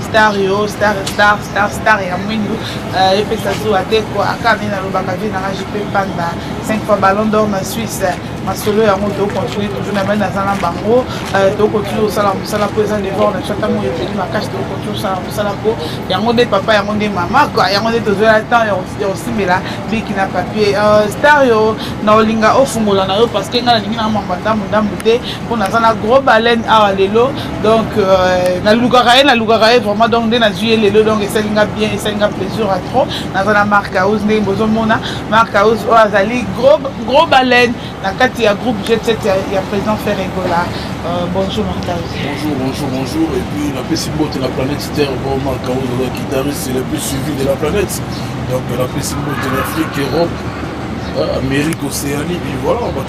star yo star star star star ya mwindu euh, epesa zuwa te ko aka nde nalobaka vie nanga jipe panda 5 fois ballon d'or na suisse masolo yango tokontinue toujours na mai naza na bango euh, tokontinue kosala mosala mpo eza devor na chata moko eteli makasi tokontinue kosala mosala mpo yango nde papa yango nde mama kua yango nde tozwela temps ya kosimbela biki na papier euh, star yo na olinga ofungola na yo parce que ngai nalingi na mambo ndambu ndambu te mpo naza na gros baleine awa lelo donc euh, nalukaka ye nalukaka ye vraiment donc nde nazwi ye lelo donc esali nga bien esali nga plaisir ya trop naza na mark house ndenge bozomona mark house oyo azali gros baleine na kati ya groupe jet set ya président ferre egola euh, bonjour mark house bonjour bonjour bonjour et puis napesi mbote na planète terre bon mark house oza guitariste le plus suivi de la planète donc napesi mbote na afrique europe euh, amérique océanie puis voilà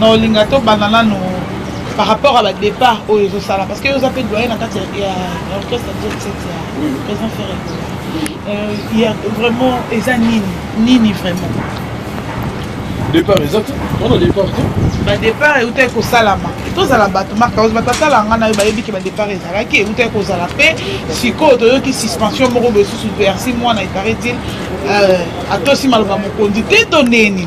na olinga to banda nanu par rapport à ba départ oyo ezo sala parce que yo oza pe doyen na kati ya orchestre jet set ya président ferre euh, ya vraiment eza nini nini vraiment départ eza te wana départ te badépart euta ekosalama tozala bato markaos batatala ngai nayo bayebi ke badépart ezalaki euta ekozala mpe sikoyo toyoki suspension moko boye susu versi mwana eparaît-il euh, atosi maloba mokonzi te to neni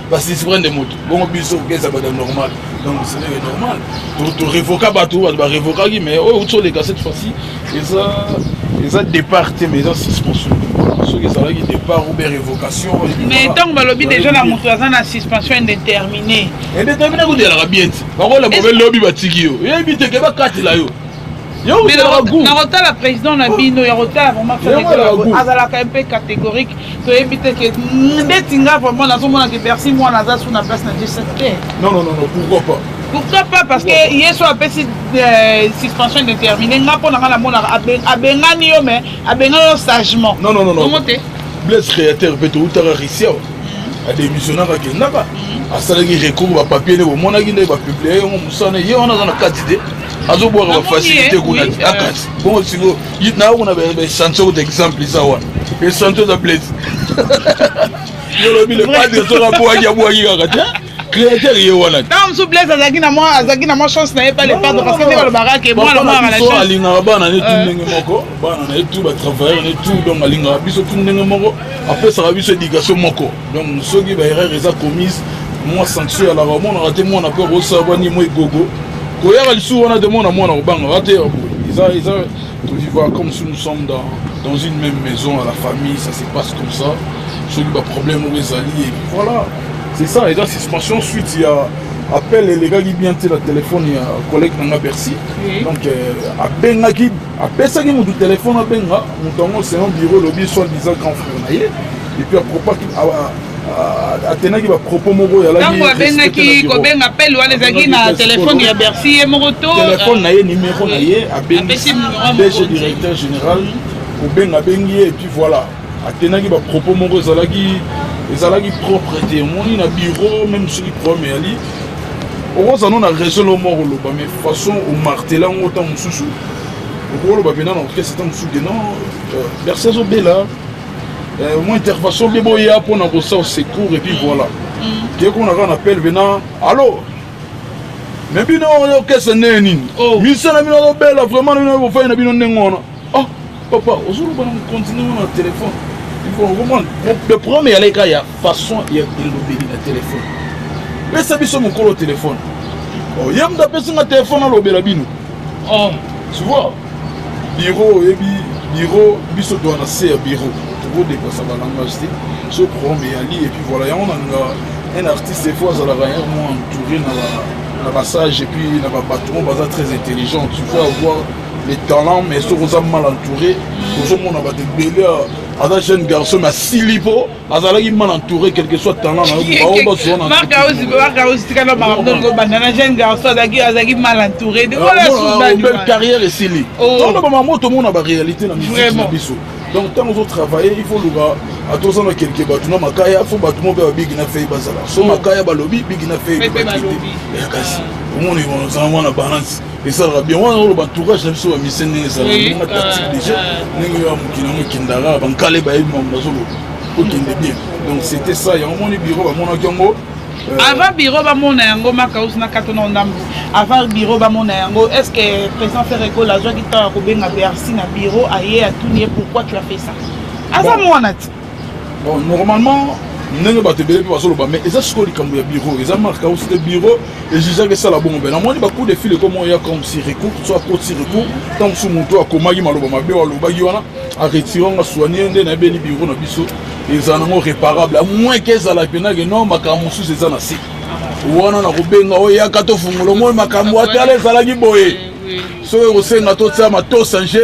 basispre nde moto bongo biso keza bada normal donc cele normal torevoka bato bato barevokaki mais oyo outi oleka cette fois-ci eza eza départ te mais eza suspension soki ezalaki départ ou bien révocation mais ntango balobi déjà na moto aza na suspension indéterminé indéterminé kodelaka bien ti bakola bobe lobi batiki yo yebi te ke bakatela yo nakotala président na bino ya kotala vraiment azalaka mpe catégorique toyebi te ke ndeti nga vraiment nazomona ke bercy mwana aza su na place na jesep te pourquoi pas pourquoi pas parce que yesu apesi euh, suspension déterminée nga mpo na nga namonaka abengani yo mais abengani yo sagement bongo te blaise créateur mpe toutaka risia mm. adémissionnaka akendaka mm. asalaki recours bapapier nde bomonaki nde bapublie yango mosana ye wana aza na kati te azobwaka bafacilité kuna te akati bongo siko nayo kuna baesantion kuta exemple eza wana esantion eza blese yolobi le padre soki abwaki abwaki kaka te créateur ye wana ntango mosusu blaise azalaki na mwa azalaki na mwa chance na ye pa lepardre parce que nde balobaka ke mwana mwana na chance alingaka bana ne tu ndenge moko bana na ye tu batravailleur ne tu donc alingaka biso tu ndenge moko apesaka biso éducation moko donc soki ba erreur eza commise mwa sanction ya laka omonaka te mwana mpe akosala bwa nimo egogo koyaka lisusu wana te mwana mwana kobangaka te eza eza tovivaka comme si nous sommes dans, dans une même maison à la famille ça se passe comme ça soki baproblème oyo ezali et voilà c'est ça eza suspension suite ya appel elekaki bien te na telefone ya collègue na nga bercy donc euh, abengaki apesaki motu telefone abenga motu yango selon bureau elobi soit disant grand frère na ye epuis apropaki atenaki bapropos moko ntango abengaki kobenga pele wana ezalaki na telefone ya bercy ye moko to telefone na ye nimero na ye abengisi dg directeur général kobenga abengi ye epuis voilà atenaki ba propos moko ezalaki ezalaki propre te omoni na bureau meme soki problème eyali okoza no na raison lo moko oloba mais façon omartela yango ntango mosusu okoloba mpena na orchestre ntango mosusu ke non euh, berse azobela euh, mwa intervention mpe boya mpo na kosala secours epuis voilà mm. kekona kaka na pele mpena allo me bino orchestre ndenge nini oh. misala bino azobela vraiment na bino bofai na bino ndenge wana Oh, papa, ozoloba na mokonzi ndenge na telefone. Okomona, le problème eyalaki kaka ya façon ya elobeli na telefone. Pesa biso mokolo telefone. Oh, ye moto apesi nga telefone alobela bino. Oh, tu vois, biro oyebi biro biso toa na se ya biro tokodepasa balangage te so problème eyali epuis voilà yango nanga un artiste efo azalaka un mo entouré na basage epuis na babato oyo baza très intelligent tu peux avoir les talents mais soki oza mal entouré ozomona bato ebele aza jeune garçon mais asili mpo azalaki mal entouré quelque soit talent na yo baobazonaobandana jeune garçon azalaki mal entouré carrière esili toloba mamo tomona baréalité na musique na biso donc ntango ozotravaille il faut luka ata oza na kelke bato na makaya fo bato moko mpe babigi na fei bazala so makaya balobi bigi na fei ebakite kasi omoni ozala mwana balance esalaka bien wana oloba entourage na biso bamisien ndenge esalaka tactique déjà ndenge oyo ya mokili yango ekendaka bankale bayebi mambo bazoloba okende bien donc c'était ça yango moni biro bamonaki yango Euh, avant biro bamona yango makausi na kato na ndambo avant biro bamona yango est ce que président ferregola azwaki ntango ya kobenga bercy na biro aye atuni ye pourquoi tu as fait ça aza mwana ti Bon, normalement, ndenge bato ebele mpe bazoloba mais eza sikoyo likambo ya bureau eza marka osi te bureau ejijaki esala bongo mpe namoni bacoup de fil ekomo ya comme si recours so akoti recours ntango mosusu moto akomaki maloba mabe oyo alobaki wana aretire nga soigne nde nayebeli bureau na biso ezala nango réparable à moins ke ezala mpenake non makambo mosusu eza na se wana nakobenga oyo yaka tofungola omoi makambo atala ezalaki boye soki ekosenga totia matosange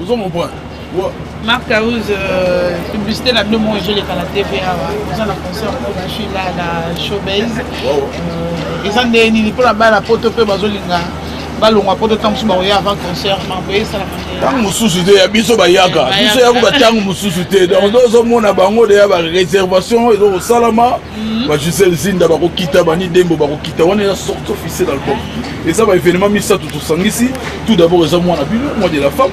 Ozo mon point. Marc Carouse, euh, publicité na bino moko ezoleka na TV awa oza na concert mpo na suis là na showbase euh, eza nde nini mpo na bana poto mpe bazolinga balongwa poto ntango mosusu bakoya avant concert mambo esalaka ntango mosusu te ya biso bayaka biso yakuba ntango mosusu te donc ozomona bango deya bareservation ezokosalama ba gisele zinda bakokita bani dembo bakokita wana eza sorte officiel album eza ba événement misato tosangisi tout d'abord eza mwana bino mois de la femme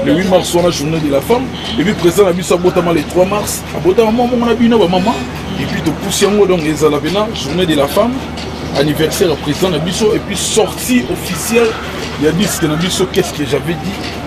le 8 mars wana journée de la femme et puis président na biso abotama le 3 mars abotama mwa mongo na bino bamama et puis topusi yango donc ezala pena journée de la femme anniversaire ya président na biso et puis sortie officielle ya disque na biso qu'est ce que j'avais dit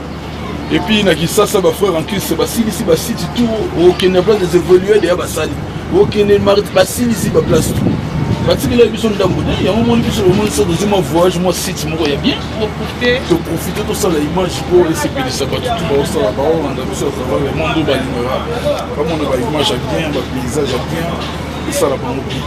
Et puis na Kisasa ba frères en Christ basilisi ba site tout okende na place des évolués deya basali okende basilisi ba place tout batikela biso ndambo te yango moni biso lomonisa tozwi mwa voyage mwa site moko ya bien toprofite tosala image mpo esepelisa bato tu baosala baolanda biso ya travail ya mondo balingaka bamona ba image ya bien ba paysage ya bien esala bango bien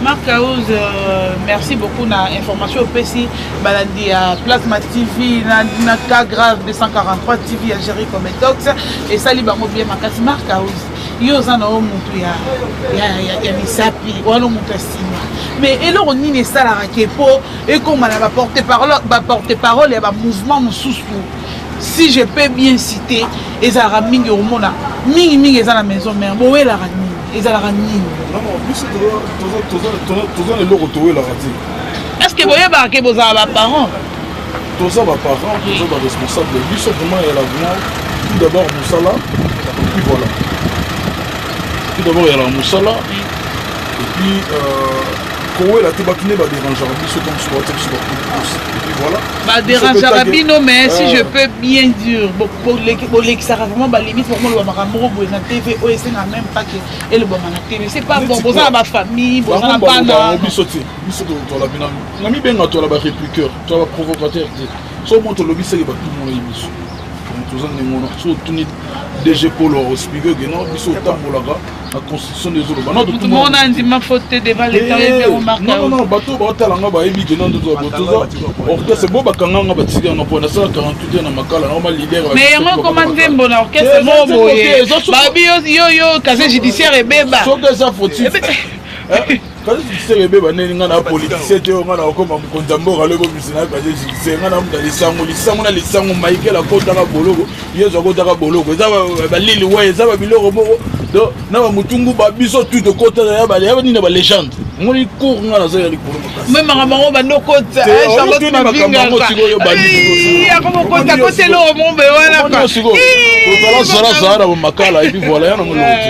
marc house euh, merci beaucoup na information opesi balandi ya plasma tv na, na cas grave 243 tv ya géri cometox esali bango bien makasi mark house yo oza na yo motu ya, ya, ya, ya misapi wana motu ya nsima mais eloko nini esalaka ke mpo ekoma na baporte parole ya bamouvement mosusu si je peux bien citer ezalaka mingi omona mingi mingi eza na maison mare bowelaka nini ezalaka nini biso toza na eloko towelaka te est ce que boyebaka ke bozala baparent toza baparent toza baresponsable biso vraiment ya lavement tout d'abord mosala epuis voilà tout d'abord ya la mosala epuis kowela te bato nde baderangeaka biso comme soate biso bakusi epuis voilà baderangeaka bino mais si je peux bien dire bolekisaka vraiment balimite boko moloba makambo moko boye na tv oyo esenga meme pas ke elobama na tv se pas bon boza na bafamille boza na bana biso te biso tola bina na mibenga tola barépliqueur tola baprovocateur te so mo tolobi seke batumoyi biso toza ndenge wana so otuni dg polo ospige geno biso otambolaka na constitution nde ezoloba moto moko na ndima faute te devant leta oyebi yango markanono bato oyo baotala nga bayebi ke nando toza orchestre bo bakanga nga batika nga mpo nasala 48 na makala nao malidere mais yango ekoma nzembo na orchestre moko boye babi yo yo casier judiciaire ebeba soki eza fautif kasi succès ebeba ndeni ngai na politicien te oyo ngai nakokoma mokonzi ya mboka lobi obimisa na kasi succès ngai namuta lisango lisango na lisango maikele akotaka boloko yesu akotaka boloko eza balili wa eza babiloko moko do na bamutungu ba biso tu tokotaka ya bale ya nini ya balegende ngoli cour ngai naza ya likolo makasi me makambo yango bando kota charlotte mabingaakokota kotela oyo mombe wana ozala zala zala na bomakala epi voila ya na moloti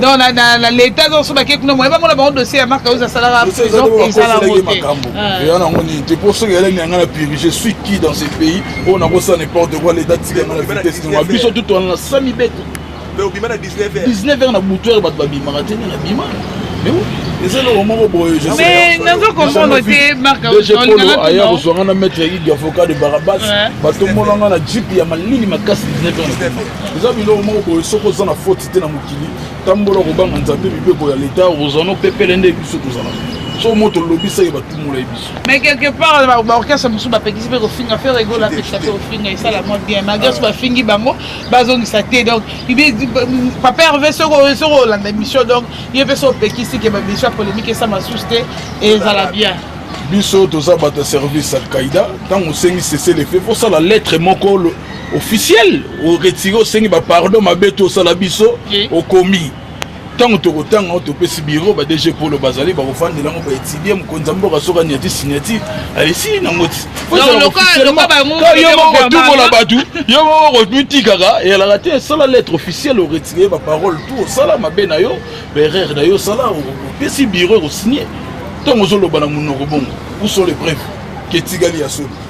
donc na, na, na leta donc so bake kuna moyeba ngona bango dossier ya marc ausa asalaka prison ezala yango te ah. eya nango nini te mpo soki elani yanga na piri je suis qui dans ce pays oyo nakosala n'importe quoi leta tika yanga na vitesse nango biso tutu wana na sami beto 19 heures na butu heure bato babimaka te nde nabima eza eloko moko boye naza comprendre te markpolo aya kozwa nga na maître igi avocat de barabas batombola nga na jipe ya malili makasi 19 heures eza biloko moko boye soki oza na faute te na mokili tambola kobanga nzambe mibeko ya leta okozwa no pepele nde biso tozalaka so moto olobisaki batumolai biso mais quelque part baorchestre mosusu bapekisi mpe kofinga fe regol apekisa mpe kofinga esala mwa bien malgré so bafingi bango bazongisa te donc papa herve soki olanda émission donc ye mpe so opekisi ke babiso ya polémique esama susu te ezala bien biso toza bato ya service alkaïda ntango osengi sese lefe fosala lettre moko officiel o retire osengi ba pardon mabe to osala biso okomi ntango tokotanga o topesi biro ba dg polo bazali bakofandela yango baetidie mokonzi ya mboka soki anyati signature alesi nango ti yo moko kotumola bato yo moko komitikaka eyalaka te esala lettre officielle oretire baparole tu osala mabe na yo baerreur na yo osala opesi biro ekosigne ntango ozoloba na monoko bongo uso le preuve ketikali ya solo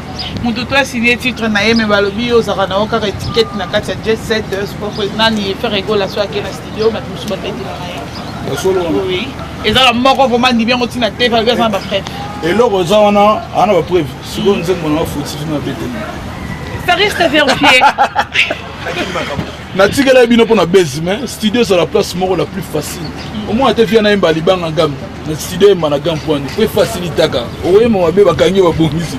moto to asigne titre na ye me balobi yo ozalaka na yo kaka etikete na kati ya jet set euh, sport nani faire egola so ake na studio bato mosusu babetelaka ye eza na moko vraimen ndibi yango ntina te falobi aza na bapreve eloko eza wana aa na bapreve sikoyo nzembo na bafotifi na beteli ça reste à vérifier natikelaki bino mpo na base mais studio ezala place moko la plus facile omona te fia nayemba libanga game na studio yemba na game pwani mpo efasilitaka oyemba mabe bakangi babongisi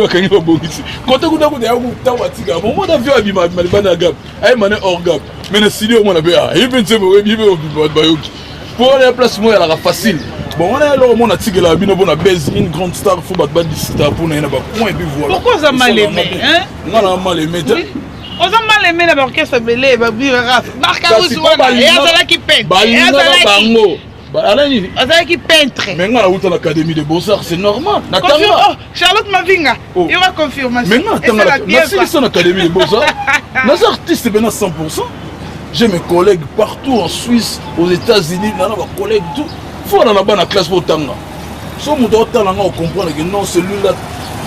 bakangi babongisi kote kuta kuta yakutango atika omona fia abima abima libanda ya game ayemba ne hors game mais na studio omona mpe aye mpe nzembo oyebi mpe obima bato bayoki mpo wana ya place moko ezalaka facile bon wana eloko mona tikelaka bino mpona base une grande star fo bato badisita mpona ye na bacoin epi voilà pourquoi oza maleme nga na maleme te oza mal aimé na baorchestre ebele barkaus wana ye azalaki penteazalaki azalaki peintre mais nga nauta na académie de beausart c'est normal na tanga oh, charlotte mavinga oh. yoka confirmation mais nga tanga nasilisa na académie de beausart naza artiste pena 100 j'ai mes collègues partout en suisse aux états-unis nana bacollègue tout fo na na bana classe po otanga so moto aotala nga ocomprendre ke non celui là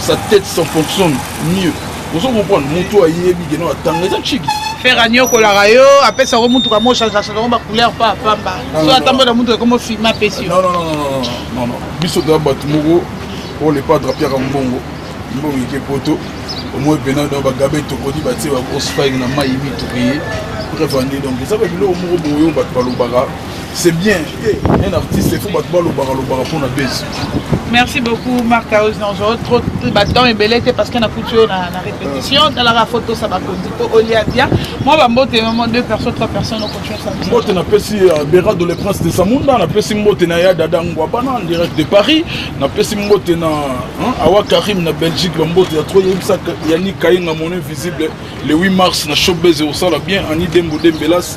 sa tête son fonctionne mieux ozo comprendre moto ayebi ke non atanga eza chigi fer anyokolaka yo apesa yango motuka mochangeaka yango bacouleur pa pamba so atambola na motuka ekomo filme apesi yo biso toza bato moko oyo lepadre apiaka mbongo mbongo eke poto omoi mpena donc bagabe tokodi batie bagrosse fine na mai mituki ye bref ande donc eza babiloko moko boyo bato balobaka C'est bien. Un artiste, il faut battre le bar, le bar pour la baisse. Merci beaucoup Marc Aouz Nanjo. Trop de bâtons et bellettes parce qu'on a foutu la, la répétition. Dans la photo, ça va conduire au Liadia. Moi, je mbote vraiment deux personnes, trois personnes, on continue ça. Mbote na pesi euh, Bera de le Prince de Samunda, na pesi mbote na ya Dada Ngwabana en direct de Paris, na pesi mbote na hein, Awa Karim na Belgique, ba mbote ya trop yebisa Yannick Kayenga mon invisible le 8 mars na Showbiz au sala bien Annie Dembo Dembelas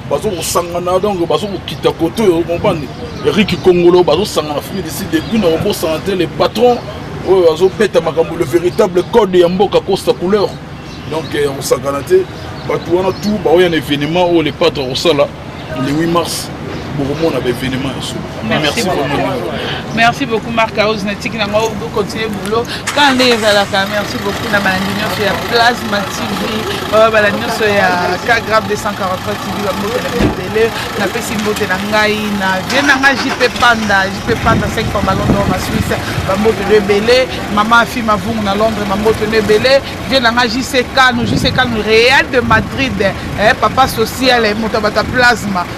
bazokosangana donc bazokokita kote oyo comprendre eriki kongolo bazosangana fimi disi depuis na kobosana te le patron oyo azobeta makambo le véritable code ya mboka costa couleur donc ya euh, kosakana te bato wana tout baoya na événement oyo le patre akosala le 8 mars bokomona baévénement ya solo Merci beaucoup. Merci beaucoup Marc House na tiki na ngao bo continuer boulot. Quand nde ezalaka merci beaucoup na balandi nyonso ya Plasma TV, ba balandi nyonso ya K Grave 243 TV ba mbote na bibele. Na pesi mbote na ngai na vie na ngai JP Panda, JP Panda 5 fois ballon d'or na Suisse, ba mbote de bele, maman afi mavungu na Londres, ma mbote de bele, vie na ngai JC Kanu, JC Kanu Real de Madrid, eh papa social, eh, moto bata Plasma.